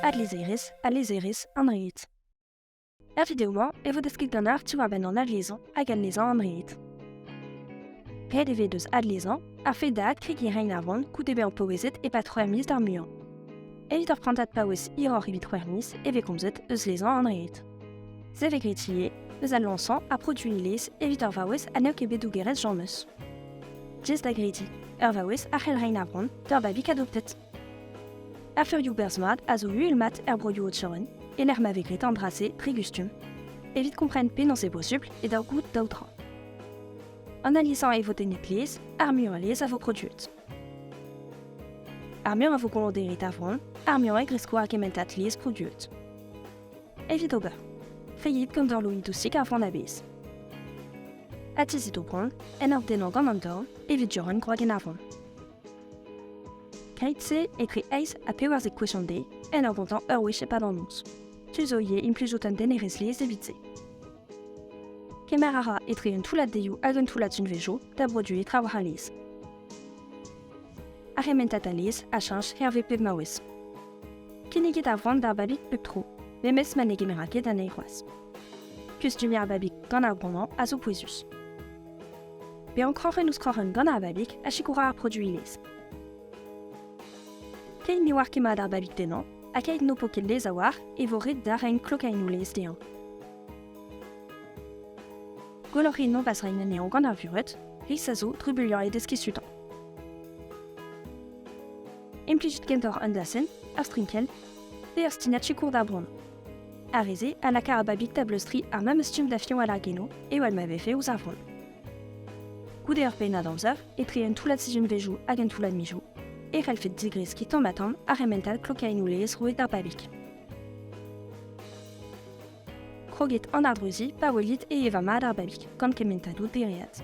Ad lizherez, al lizherez, an red. Er video-mañ e vo desket ganeoc'h diwar-benn an adlezañ hag adlezañ an red. Ret e vez deus adlezañ a-fet da adkregiñ rein ar vont goude bezañ paouezet e-pad c'hwec'h miz d'ar muiañ. Evit ur prantad paouez hiroc'h evit c'hwec'h miz e vez komzet eus lezañ an red. Se vez graet ivez eus al lañsañ ha produiñ lez evit ur vaouez ha n'eo ket bet dougerez Jean Meus. Jess da grediñ, ur vaouez a c'hell reiñ abron d'ur babig adoptet. Aferioù berzh mat a zo uhel mat er broioù Ocheron, e lec'h ma vez graet an dra-se dre gustum, evit kompren penaos eo posubl e daou goût daou dra. An alizañ e vo tennet lez, ar muiañ lez a vo produet. Ar muiañ a vo goloderet avron, ar muiañ e gresko ar kement lez produet. Evit ober. Feiit gant ur loen dousik ar vran a-bezh. Atizit o bran en ur dennañ gant an dorn evit diorren gwrag en ar vran. Keit-se etre eizh ha pevarzek gwechon de en ur gontañ ur wech e-pad an noz. Tu zo ivez implijout un denerezh laezh evit se. Kemer a ra etre un toullad deioù hag un toullad sunvezioù da broduiñ traoù ar lez. Ar rementad a lez a chañch hervez pep maouez. Kinniget a ran d'ar babig pep tro, memes ma ne gemera ket anezhi c'hoazh. Kustumier ar babig gant ar bromañ a zo pouezus. Bezañ kroc'hen ouzh kroc'hen gant ar babig a sikoura ar produiñ lez. Keit ne oar ket mat ar babig tennañ Ha keit n'ho po ket lez a-walc'h e vo ret darren klokaennoù-lez dezhañ. Gwelloc'h int noz rein anezhañ gant ar vured, ris a zo drubuilhañ e deskiñ sutañ. Implijet kentoc'h an dasenn, ar strinkell, pe ar stinad sikour d'ar bronn. Ar re-se a laka ar babig da bleustriñ ar memes stumm da fiñv al argenoù ewell ma vefe ouzh ar vronn. Goude ur pennad amzer, etre un toullad sizhunvezhioù hag un toullad mizoù, e c'hellfed digreskiñ tamm-ha-tamm ar remental klokaennoù-laezh roet d'ar babig. Kroget an ardreuziñ pa welit e eva mat ar babig gant kementadoù dereat.